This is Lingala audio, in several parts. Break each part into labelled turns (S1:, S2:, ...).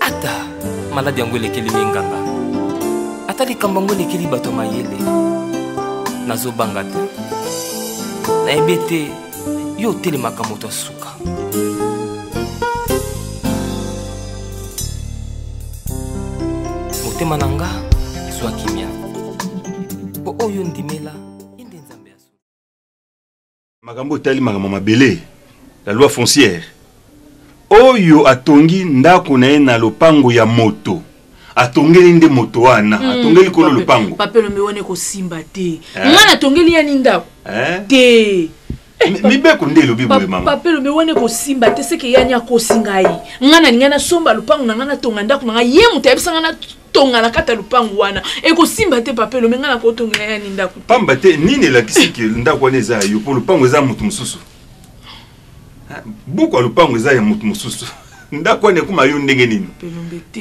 S1: ata maladi yango elekeli minganga ata likambo yango elekeli bato mayele nazobanga te nayebi ete yo otelemaka moto ya suka motema na nga zwa kimia mpo oyo ndimela
S2: Makambo etali makambo ya mabele, la loi foncière. Oyo atongi ndako na ye na lopango ya moto atongeli nde moto wana mm, atongeli kolo lopango papelombe wana ekosimba
S3: te eh? ngai natongeli yani ndako eh? te eh, mibeko
S2: nde elobi boye mama papelombe wana ekosimba
S3: te seke yani akosi ngai ngai nalingai nasomba lopango na ngai natonga ndako na ngai ye moto ayebisa ngai tonga na kati ya lupangu wana ekosimba te papa elombe ngai nakotongela yani ndako pamba te nini
S2: elakisi ke ndako wana eza ya yo mpo lupangu eza ya moto mosusu ah, buku ya lupangu eza ya moto mosusu ndako wana ekoma yo ndenge nini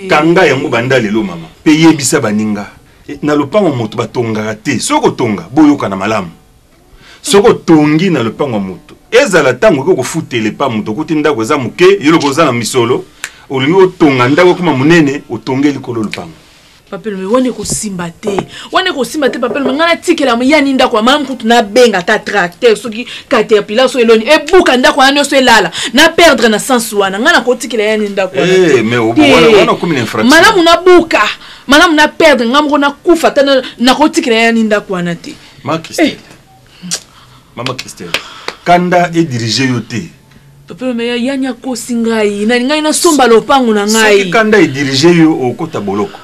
S2: kanga yango banda lelo mama mpe yebisa baninga eh, na lopango moto batongaka te soki kotonga boyokana malamu soki otongi na lopango ya moto ezala ntango okoki kofutela epa moto okuti ndako eza moke yo lokola oza na misolo olingi otonga ndako ekoma monene otonge likolo lopango papelome wana
S3: ekosimba te wana ekosimba te papelome ngai natikela yani ndako ya mama kutu nabenga ata tracteur soki caterpillar so eloni ebuka ndako wana nyonso elala na perdre na sense wana ngai nakotikela yani ndako eh,
S2: malamu nabuka
S3: malamu na perdre ngai moko nakufa ata nakotikela yani ndako wana te Ma Christelle.
S2: Eh. Maman Christelle. Kanda et diriger yo te. Papa mais
S3: yani akosi ngai. Na ngai na somba lopango na ngai. Soki kanda et diriger yo
S2: okota boloko.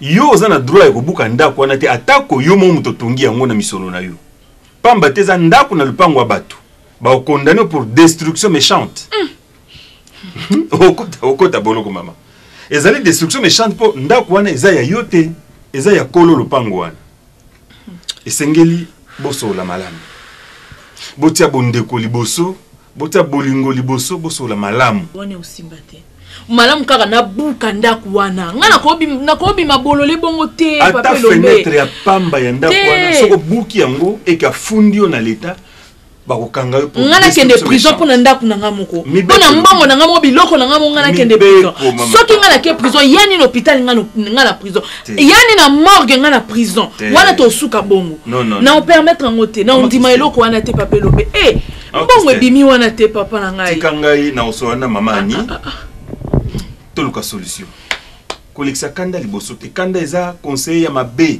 S2: Yo oza na droit ya kobuka ndako wana te atako yo mo moto tongi yango na misolo na yo. Pamba te eza ndako na lupango ya bato. Ba condamné pour destruction méchante. Mm. okota okota boloko mama. Ezali destruction méchante po ndako wana eza ya yo te. Eza ya kolo lopango wana. esengeli bosolola malamu botia bondeko liboso botia bolingo liboso bosolola malamu wana osimba te
S3: malamu kaka nabuka ndako wana ngai nakobima bolole bongo te ata fenetre ya
S2: pamba ya ndako wana soki obuki yango eke afundi yo na leta bakokanga yo ngai nakende prison mpo
S3: na ndako na ngai moko mpo na mbongo na ngai moko biloko na ngai moko ngai nakende prison soki ngai nake prison ya nini hôpital ngai na prison ya nini na morgue ngai na prison wana tosuka bongo na opermettre yango te na ondima eloko wana te papa elobe e eh, ah, mbongo ebimi wana te papa na ngai tika ngai na osola na
S2: mama ani ah, ah, toluka solution kolekisa kanda liboso te kanda eza conseiller ya mabe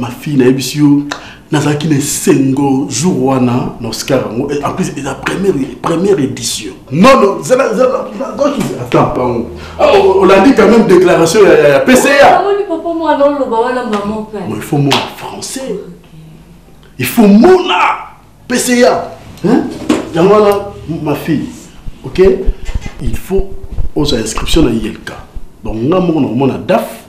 S4: ma fille nayebisi yo nazalaki na esengo jour wana na oscar yango en plus eza première, première édition non non zela zela attends pango ah, olandi quand même déclaration ya, ya pca ah, il faut mona français il faut mona pca yango wana ma fille ok il faut ozwa inscription na ilk donc nga moko nakomona daf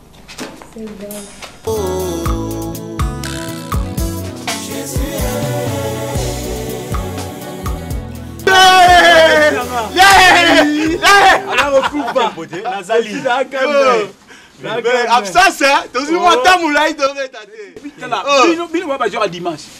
S5: absence tozwi mwa ntango molai tobeta te
S6: bino babajora dimanche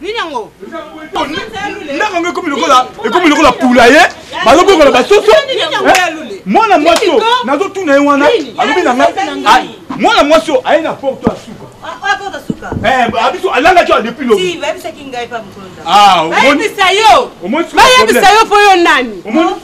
S3: nini yango
S6: ndako yango ekomi lokola ekomi lokola pula ye bazobokola basoso mwana mwasi oyo nazotuna ye wana alobi na ngai mwana mwasi oyo aye na porte ya suka
S7: abiso alangaki
S6: oyo depuis
S7: lobibayebisa
S6: yo mpo yo
S3: nani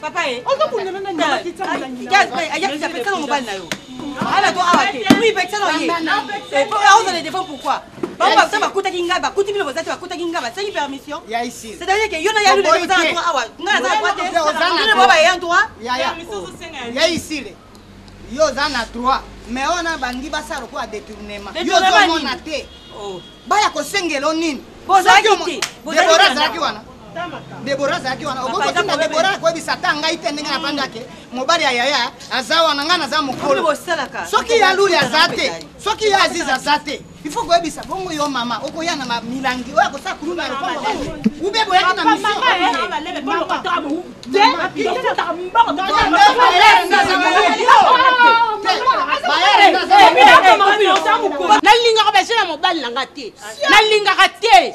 S5: Papa eh. Ozo
S7: kundana na nini bakitsa mulangi. Gaz mais aya kitsa pesa na mobali na yo. Ala to awa te. Oui pesa na ye. Et pour la hausse de défense pourquoi? bango baza bakutaki ngai bakuti bino boza te bakutaki ngai basengi permission c'est-à-dire ke
S5: yo na yalu lelo
S7: oza na droit awa ngai naza na droit te bino baye ya droit
S5: ya isile yo oza na droit mais oyo na bangi basala lokola detournement yo ozomona te oh. baya kosengelo nini debora
S7: azalaki
S5: wana debora azalaki wana okokotinda debora akoyebisa ata ngai te ndenge nafandaki mobali ya yaya aza wana ngai naza mokolo soki ya luli aza te soki ya aziz aza te il faut koyebisa bongo yo mama okoya na milangi oyo akosala kuluna ya lopango ube boyaki
S3: na nalingaka basi na mobali na nga te nalingaka te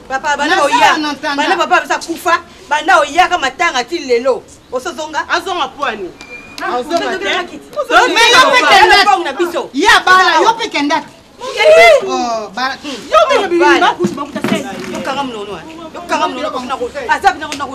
S5: papa banda
S7: oya banda papa abisa kufa banda oyaka matanga ti lelo osozonga azonga pwani
S3: na
S5: biso ye
S7: abala yo mpe
S5: kendaki yokanga mnono
S7: yokanga mnono aza bina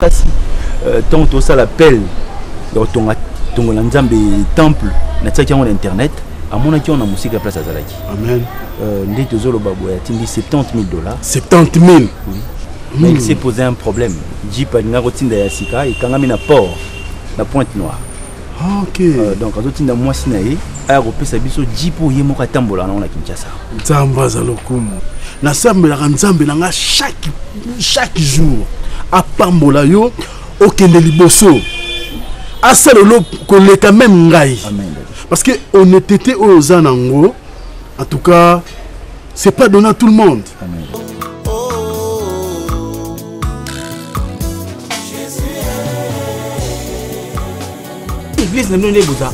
S8: kasi euh, ntango tosala pele ya kotonga tongo na nzambe temple natiaki yango na internet amonaki wana mosika place azalaki amen euh,
S4: nde tozoloba
S8: boye atindi 70 000 dollars 70 000
S4: oui.
S8: mm. il s'est posé un problème jeep alingaki kotinda ya sika ekangami na port na pointe noire Ah, ok euh,
S4: donc azotinda mwasi
S8: na ye aya kopesa biso ji mpo ye moko atambola nango na kinshasa nzambe aza
S4: lokumu nasambelaka nzambe na nga chaque, chaque jour apambola yo okende liboso asala olo koleka meme ngai parce que honnêteté oyo oza nango en tout cas c'est pas donné à tout le monde
S6: église na bino nde boza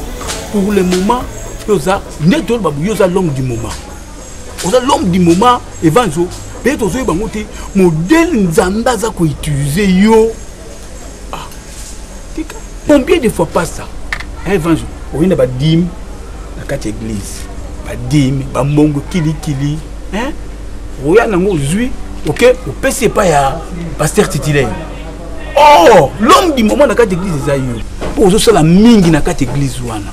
S6: pour le moment mpe oza nde toloba boye oza l'homme du moment oza l'homme du moment evanzo mpe tozoyeba yango te modele nzambe aza koutilize yo ah tika combien de fois pas ça un vent jour oye na badime na kati ya église badime bambongo kilikili hein oya nango ozwi oke opesi epai ya paster titulaire or oh, l'homme du moment na kati ya église eza yo mpo ozosala mingi na kati ya église wana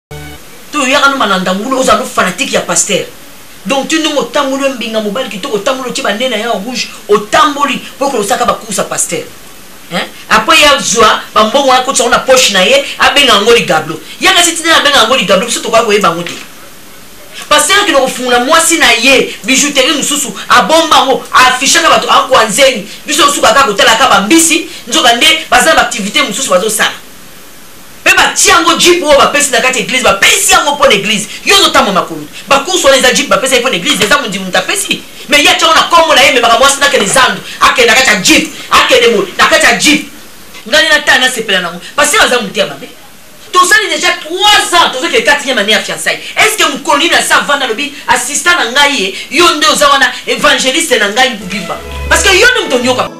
S9: to yaka no malanda ngulu oza no fanatique ya pasteur donc ti ndongo otamboli mbinga mobali kitoko otamboli otie banene ya rouge otamboli po kolosaka bakursa pasteur hein? après ye azwa bambongo wana akotisa yango na poche na ye abenga yango ligablo yaka si tina abenga yango ligablo biso tokoya koyeba yango te pasteur akende kofungola mwasi na ye bijouterie mosusu abomba yango afishaka bato akwa nzeni biso osuka kaka kotalaka bambisi nzoka nde baza na baaktivité mosusu bazosala pe batie yango jeep oyo bapesi na kati ya eglise bapesi yango mpo na eglise yo ozotambwa makomi bakursu wana eza jeep bapesi mpo na eglise eza mondimu moto apesi me ye atyango na kombo na ye ememaka mwasi nakende zandu akende na kati ya jeep akende mo na kati ya jeep ngai natala nasepela nango pase baza moto ya mabe tosali deja 3 ans tozokende quatrième année ya fiançai est ce que mokolo nini asi avanda alobi assistant na ngai ye yo nde oza wana évangéliste na ngai bibimba parce que yo nde moto onyoka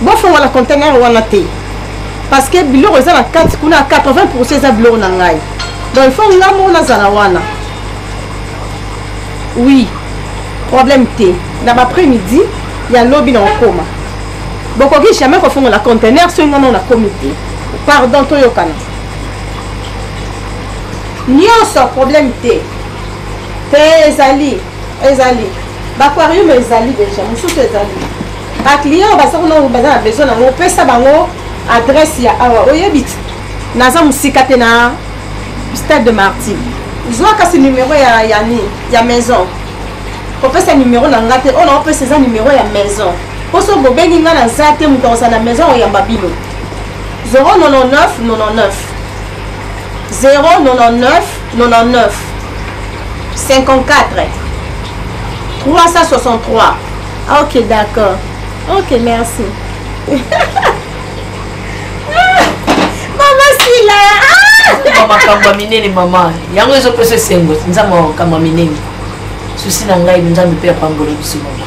S7: bofongola conteneur wana te parce que biloko eza na kati kuna ya 80 pourcent eza biloko na ngai donc il faut ngai moko nazala wana oui problème te na baprès midi ya lobi na kokoma bokoki jamais kofongola conteneur soki ngai moko nakomi te pardon toyokana nyonso problème te te ezali ezali baquarium ezali deja mosusu ezali baclient baza kuna baza na besoin nango opesa bango adresse ya awa oyebi naza mosika te na stade de martyr zwa kasi numero ya yani ya maison kopesa numero na nga te oyo naopesa eza numero ya maison mpo soki bobengi nga naza te moto akozala na maison oyamba bino 099 99 099 99 54 363 ok d'accord ok merci mama sila ah! makambo ya minene
S9: mama yango ezopesa esengo nzambe makambo ya minene susi na ngai nzambe mpe apambola biso mama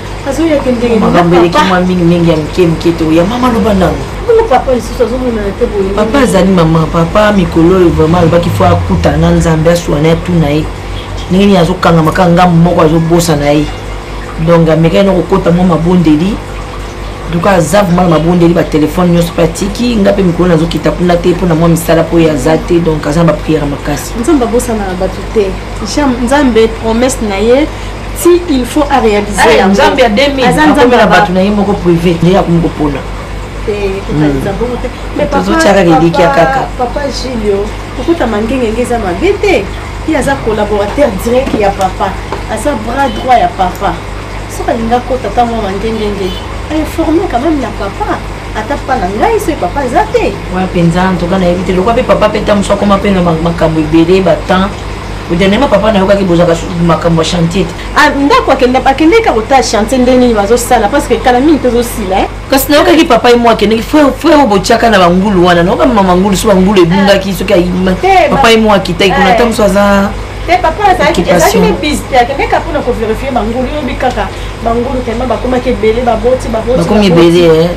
S7: azoyaka ndenge makambo eleki mwa mingi
S9: mingi ya mike mike to ya mama loba nano papa lisusu
S7: azomonana te boye papa azali mama
S9: papa mikolo oyo vraiment alobaki fo akutana na nzambe aswana ya tuna ye ndenge nini azokangama kaka ngambo moko azobosana ye donc amekaki na kokota mwa mabondeli donc aza vraimen na mabondeli batelefone nyonso mpe atiki nga mpe mikolo nazokita kuna te mpo na mwa misala mpo ye aza te donc aza na bapriere makasi nzambe abosanaka bato
S7: te nzambe promese na ye si il faut a réaliser eh, yango nzambe ya 2000 aza
S9: nzambe na bato na ye moko privé nde akomi kopona
S7: tozotyaka lelikia kaka papa julio kokutama ngengenge eza mabe te ye aza collaborateur direct ya papa aza bras droit ya papa soki alinga kota ntango mwa mangengenge ainforme quand même na papa ata pa na ngai soki papa eza te wana mpenza ntoka
S9: nayebi te lokwa mpe papa mpe ntango mosu akoma mpe na makambo ebele batemps dernièrement papa nayokaki bozalaka makambo ya chantier te ah, ndako
S7: akendeki akotala chantier nde nini bazosala parce que kala mingi tozosila eh. kasi nayokaki papa ye
S9: mwa akendeki frere botiaka na bangulu wana nayoka mama mangulu so bangulu ebungaki soki ayima eh, papa ye mwa akitaki kuna eh. ntango so aza te papa azalaki
S7: ezalaki ne bise te akendeka mpona koverifie bangulu yobi kaka bangulu tellement bakomaki ebele baboti babotibakomi
S9: ebele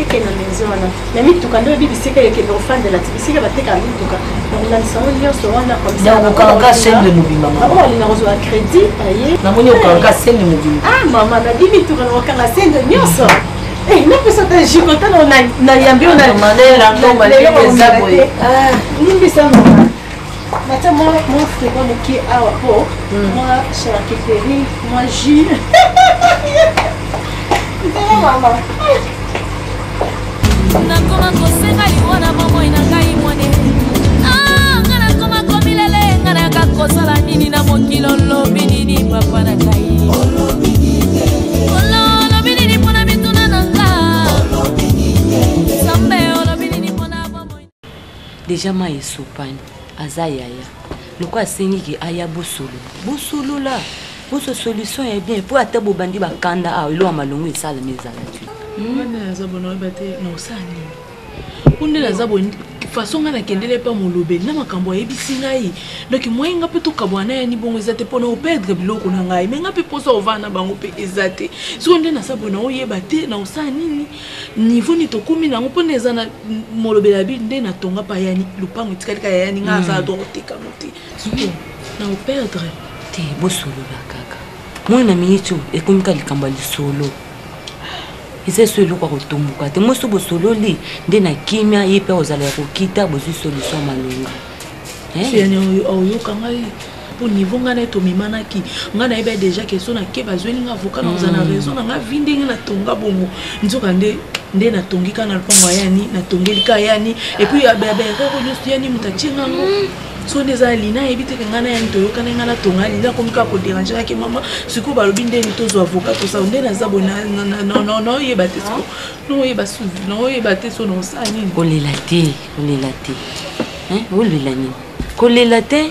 S7: eke na maison wana na mituka nde oyebi bisika ekende ofandela ti bisika bateka mituka bakolandisa yango nyonso wana okanga sembe
S9: mobimba bango balinga kozwa crédit
S7: aye namoni okanga
S9: sembe mobimba ah mama nabi mituka
S7: na okanga sembe nyonso eh, napesa ta jikotana na yambi oyo
S9: na
S7: limbisa mama
S3: natia mwa mwa frigo moke awa po mwa charcuterie mwa jus ntala
S10: mama nakoma kosenga liwa na bomoi na ngai mwane ah, nga nakoma komilele nga nayaka kosala nini na mokili olobi nini papa na ngai olobi deja
S9: mai esopani aza yaya loko asengi ke aya bosolo bosolola boso solution ya bien mpo ata bobandi bakanda awa elo ya malongo esalama ezala te hmm? aza bona
S3: oyeba te na osala nini mpo nde naza boye façon ngai nakendele mpa molobeli na makambo ayebisi ngai donk moyen ngai mpe tokabwana na yani bongo eza te mpo na operdre biloko na ngai me ngai mpe mposa ovanda na bango mpe eza te sikoyo nde naza boye na oyeba te na osala nini niveau nini tokomi nango mpona eza na molobela bi nde na tonga mpa yani lopango etikali kaka yani nga aza adwa koteka ngo te siko na operdre te bosolola
S9: kaka moi na miniti oyo ekomi ka likambo ya lisolo eza eso eloko ya kotomboka te moi so bosololi nde na kimia ye mpe ozala ya kokita bozwi solution malonga
S3: oyoka ngai po niveau nga naye tomemanaki nga nayebi ya dejà ke so nake bazweli nga avocat nakoza na hmm. raison na nga vi ndenge natonga bongo nzoka nde nde natongi ka na lopango ya yani natongeli ka yani epuis ya baerreur oyo nyonso yani moto atie nga ngo hmm. so nde eza lina ayebi teke ngai na yani toyokana ngai natonga lina akomi kaka koderange kake mama sikoyo balobi ndeni tozwa avocat tosala nde naza boye naoyeba te siko naoyeba suvi naoyeba te so naosala nini kolela te
S9: kolela te olela nini kolela te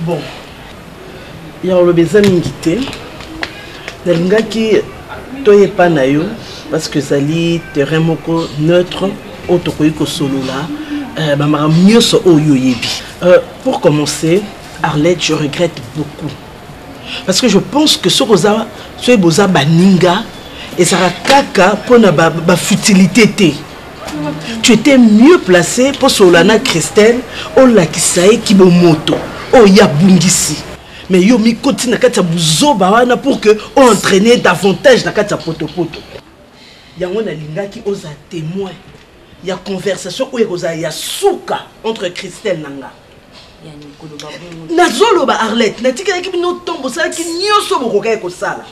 S11: bon ya koloba eza mingi te nalingaki toyepa na yo parce que ezali terrain moko neutre oyo tokoki kosolola euh, bamakambo nyonso oyo oyebi euh, pour commencer arlette je regrette beaucoup parce que je pense que soki oza soki boza baninga ezalaka kaka mpona bafutilité ba te tu étais mieux placé mpo solola na christelle olakisa ye kibomoto oyo ye abungisi mais yo mikoti na kati ya buzoba wana pour que oentraîne davantage na kati ya potopoto yango nalingaki oza témoin ya conversation oyo ekozala ya suka entre christelle na nga nazoloba arlette natikelaki bino ntongo bosalaki nyonso bokokaki kosala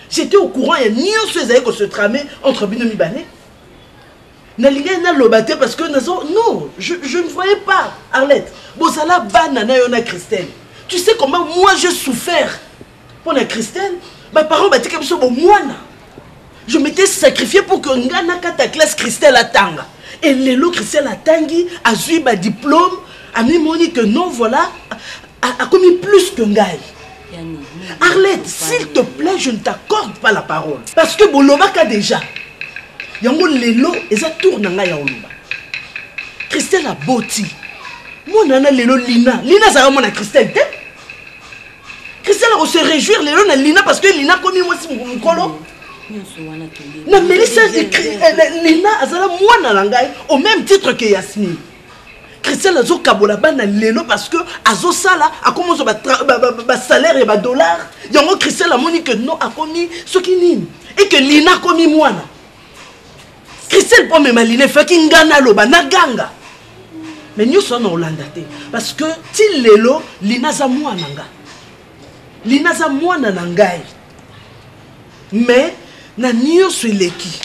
S11: j'étais au courant ya nyonso ezali ko se trame entre bino mibale nalingaki naloba te parce que nazo non je, je ne voyais pas arlette bozala bana na yo na christelle tu sais comment moi je souffert mpo na christelle baparent batika biso bomwana je m'étais sacrifié pour que nga nakata classe christelle atanga et lelo christelle atangi azwi badiplôme amimoni que non voilà akomi plus que ngai arlette s'il te plaît je ne t'accorde pas la parole parce que bolobaka déjà yango lelo eza tour na ngai ya koloba christelle aboti mwana wana lelo lina lina azalaka mwana christelle te christelle akose réjouir lelo na lina parce que lina akomi mwasi mokolo namelisa eh, lina azala mwana na ngai au même titre que yasmine christian azokabola bana lelo parce que azosala akomi ozwa basalaire ya badollar yango christian amoni que non akomi soki nini et que lina akomi mwana christian mpo amema lina efaki ngai naloba naganga mais nyonso wana olanda te parce que ti lelo lina aza mwana nga lina aza mwana na ngai mais na nionso eleki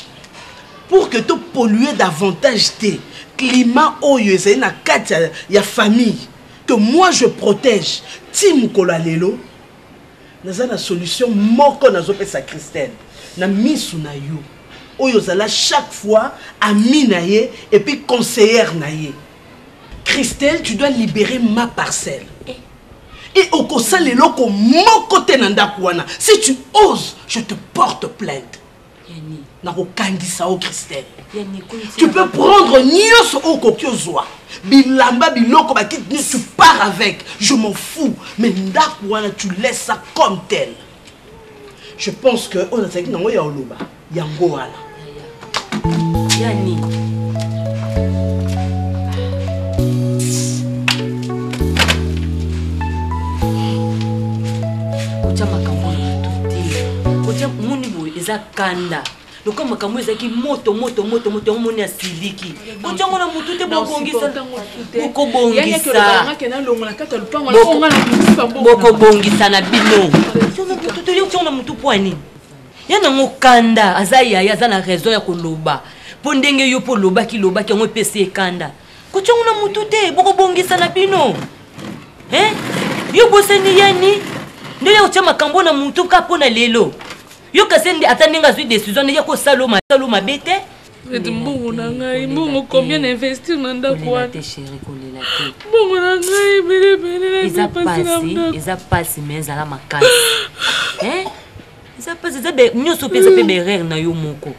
S11: pour que to polluer davantage te climat oyo ezali na kati ya, ya famille que moi je protège ti mokolo ya lelo naza na solution moko nazopesa christelle na misu na yo oyo ozala chaque fois ami na ye epuis conseillere na ye christelle tu dois libérer ma parcelle et okosala eloko moko te na ndako wana si tu oses je te porte plainte nakokangisa o christelle tu peux prendre nyonso oyo okoki ozwa bilamba biloko bakiti nini tu pars avec je m'en fous mais ndako wana tu laisse ça comme tel je pense que oyo nazalaki nango ya oloba
S9: yango wana ya nini eza kanda lokola makambo ezalaki moto moto moto moto yango moni asiliki kotya yango na motu te bokobongisa na bino tyango na motu mpo ya nini Ya nango kanda aza yaya aza na raison ya koloba po ndenge yo po lobaki lobaki yango epesi ye kanda kotya ngo na mutu te bokobongisa na bino hein yo bosani yani nde ya kotya makambo na mutu ka mpo na lelo yo kasi nde ata ndenge azwi décision nde ya kosala masalo mabe te ete mbongo
S3: na ngai mbongo combien na investir na ndako wana
S9: mbongo na ngai
S3: ebele ebele
S9: eza mpasi mais ezala makasi eza pasi eza nyonso mpe eza mpe berere na yo moko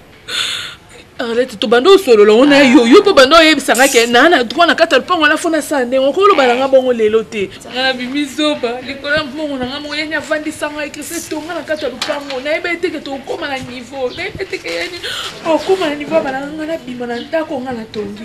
S3: arlete tobanda osolola ngo na ah. yo yo mpo banda oyebisa nga ke naa na droit na kati ya lopango wana fona sala ndenge okoki oloba na nga bongo lelo te nga na bimi zoba likolo ya mbongo na nga moko yani avandisa nga ekrisi etonga na kati ya lopango nayebi eteke tokokoma na niveau nayebi eteke yani okoma na niveau ya balanga nga nabima na ndako nga natongi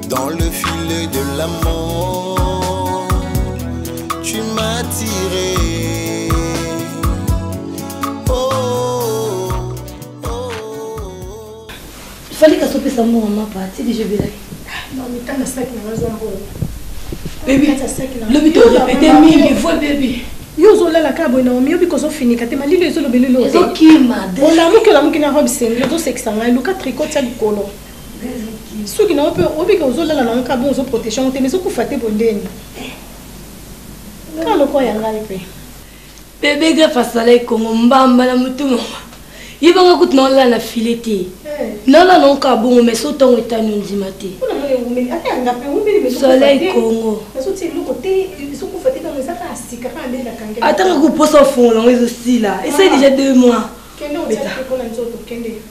S12: Dans le filet de la mort, tu m'as tiré.
S13: fali kasi opesa mbongo mapa ti deja
S14: ebelaki
S13: lobi torepete mingi voi bebi yo ozolala kaka
S14: boye naomi yobi kozofinika te malilo ezolobelilo
S13: olamuki olamuki na robe
S14: sengli ozosekisa ngai luka tricot ya likolo soki na ope obika ozolala na nka bon ozoprotege yango te mais ozokufa te bondeni kaka lokola ya ngai mpe bebe
S13: gref asala ekongo mbamba na motu mama ye banga kutu na olala na file te eh. nalala na nka bongo mais so ntango etani ondima te soleil kongo atanga koposa ofongola yango ezosila esali deja deux mois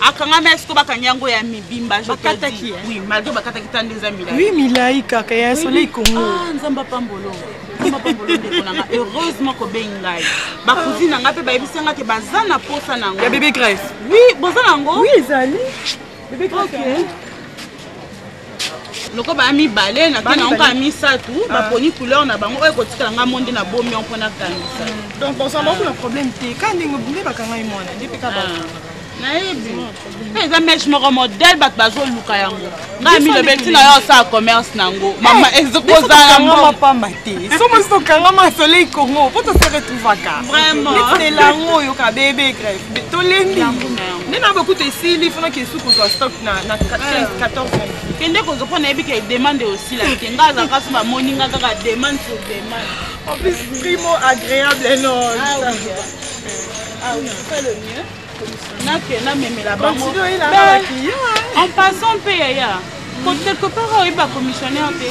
S7: akangami esi ko bakangi yango ya mibimba bakataki oui malgré bakataki ta nde eza milai oui milai kaka
S14: ya soleil congo ah, nzambe apambolo
S7: heureusement kobengi ngai bakuzi na ngai mpe bayebisi ngai te baza na mposa na yango ya bebe grèce oui
S14: boza na yango
S7: oui ezali
S14: bebe grèce okay.
S7: loko baya mibale nake nango kaka misato ah. baponi couleur na bango oyo ekotikala ngai monde na bomi yango mpo nakangisa hmm. donc bozala bango na
S14: problème te ka ndenge nde bakangai mwana nde mpe ka ah. nayebi
S7: mpe eza mèche moko modèle bato bazoluka yango ngai milobe ntina yo osala commerce na yango eh, mama ekozalaa pamba
S14: te somosi tokangama soleil congo mpo tose retrouvaka vraiment neti elango
S7: oyo
S14: kabebe grève tolembi nde na bokuta esili fona kesu kozwa stock na 14 kende kozwa
S7: mpo nayebi ke demande osila te ngai aza kasi bamoni ngai kaka demande sur demande en plus primo
S14: agréable non
S7: ah ah nakenda memela bango
S14: en passant mpe
S7: yaya quelque part oyebi bacommissionnaire te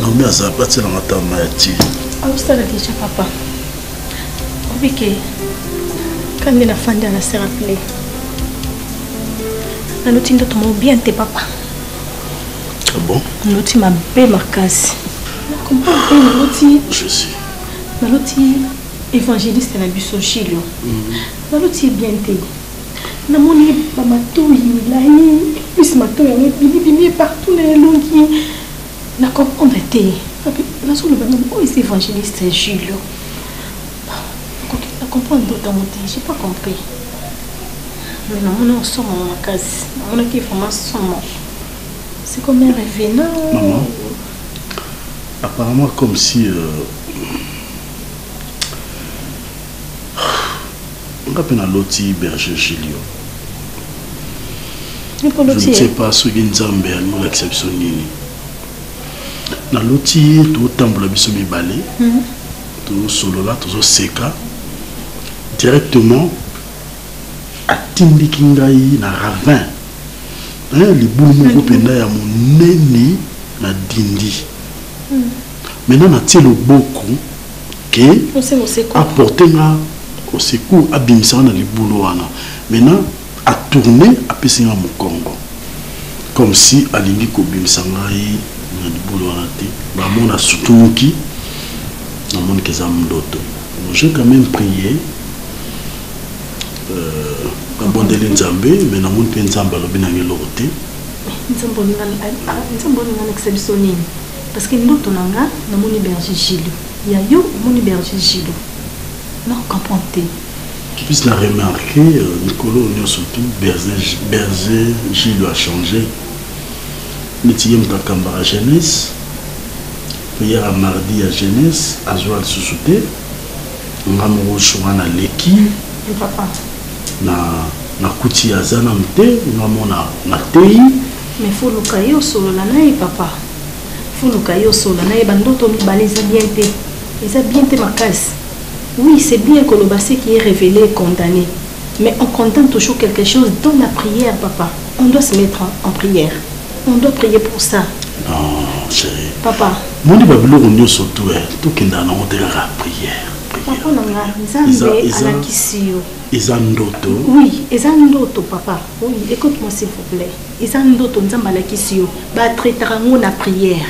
S4: Naomi aza pati na matama ya ti. Aosala
S14: deja papa. Obike kandi na fanda na se rappeler. Naloti ndoto moko bien te papa.
S4: Ah bon? Naloti mabe
S14: makasi. Nakomba mpe naloti. Je suis.
S4: Naloti
S14: évangéliste na biso Gilio. Mhm. Naloti bien te. namoni bamatoyi milai plus matoyi yango ebimibimi ye partout na elongi na comprendre te ape nazoloba nini oyo eza évangéliste jules nakoki na comprendre ndoto yango te j'ai pas compris mais namoni osomo makasi namonaki vraiment somo c'est comme un revenant
S4: maman apparemment comme si euh... nga mpe naloti berger gilio je pas soki nzambe alolakisa biso nini naloti ye totambola biso mibale mhm. tosolola tozoseka directement atindiki ngai na ravin eh, libulu moko mhm. mpenza ya monene na dindi mhm. maintenant natie loboko ke aporte nga au secours abimisa nga na libulu wana maintenant atourne apesi nga mokongo comme si alingi kobimisa ngai na libulu wana te bamona asutumuki namoni ke eza ndoto j'ai quand même prié euh, nabondeli nzambe me namoni mpe nzambe alobi nanga eloko te
S14: nzambe olinga alekisa biso nini parce que ndoto na nga namoni berger gile Ya yo omoni berger jilo na comprendre te kipisi na
S4: remarke euh, mikolo oyo nyonso tu berger jilo a change neti ye moto akambaka jeunesse prière mardi ya jeunesse azwa lisusu te nga moko soka na leki
S14: na
S4: nakuti aza nanu te nga mona nateyi mais foluka
S14: ye osolola na ye papa fuluka yo sola naye bandoto mibale eza bien te eza bien te makasi oui c'est bien koloba ce qui est révélé et condamné mais on condamne toujours quelque chose dans la prière papa on doit se mettre en, en prière on doit prier pour ça non
S4: chéri papa moni
S14: babiloko
S4: nyonso tu eh, tokendaka nango te kaka prière papa na nga
S14: nzambe alakisi yo eza
S4: ndoto oui eza
S14: ndoto papa oui écoute moi s'il vous plaît eza ndoto nzambe alakisi yo batretaka yango na prière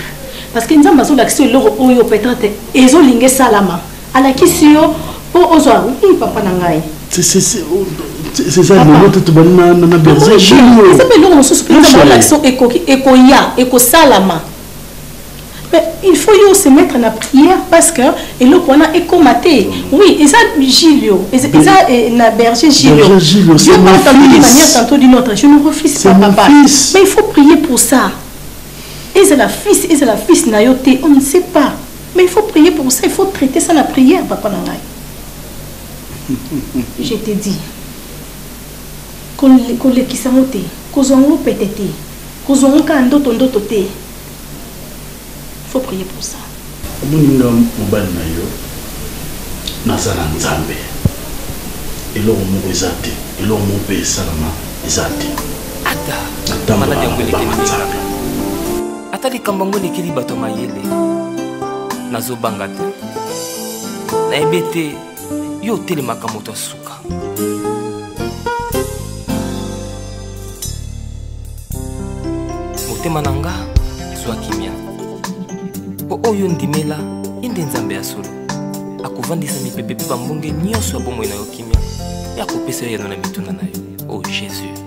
S14: parce que nzambe azolakisa eloko oyo peut-être ezolinga esalama alakisi yo mpo ozwa i papa na ngai
S4: eza mpe eloko
S14: mosusu mpe nzambe alakisa ekoki ekoya ekosalama Mais il faut yo se mettre na prière parce que eloko wana ekoma te. Oui, eza Gilio, eza eza, eh, na berger Gilio. Berger Gilio, Dieu c'est mon parle tantôt d'une fils. manière, tantôt d'une autre. Je ne refuse C'est pas mon papa. fils. Mais il faut prier pour ça. Ezala fils, ezala fils na yo te, on ne sait pas. Mais il faut prier pour ça, il faut traiter ça na prière papa na ngai. Je te dis. Kole- kolekisa yango te, kozwa yango pete te. Kozua ngo kaka ndoto ndoto te faut prier pour ça. Omoni nga
S4: mobali na yo naza na Nzambe eloko moko eza te eloko moko mpe esalama eza te ata maladi yango elekeli
S1: nzambe ata likambo yango elekeli bato ya mayele nazobanga te nayebi ete yo otelemaka moto ya suka motema na nga zwa kimia mpo oyo ndimela ye nde nzambe ya solo akovandisa mipepe mpe bambonge nyonso ya bomoi na yo kimia mpe akopesa yo yano na mituna na yo o oh, jésus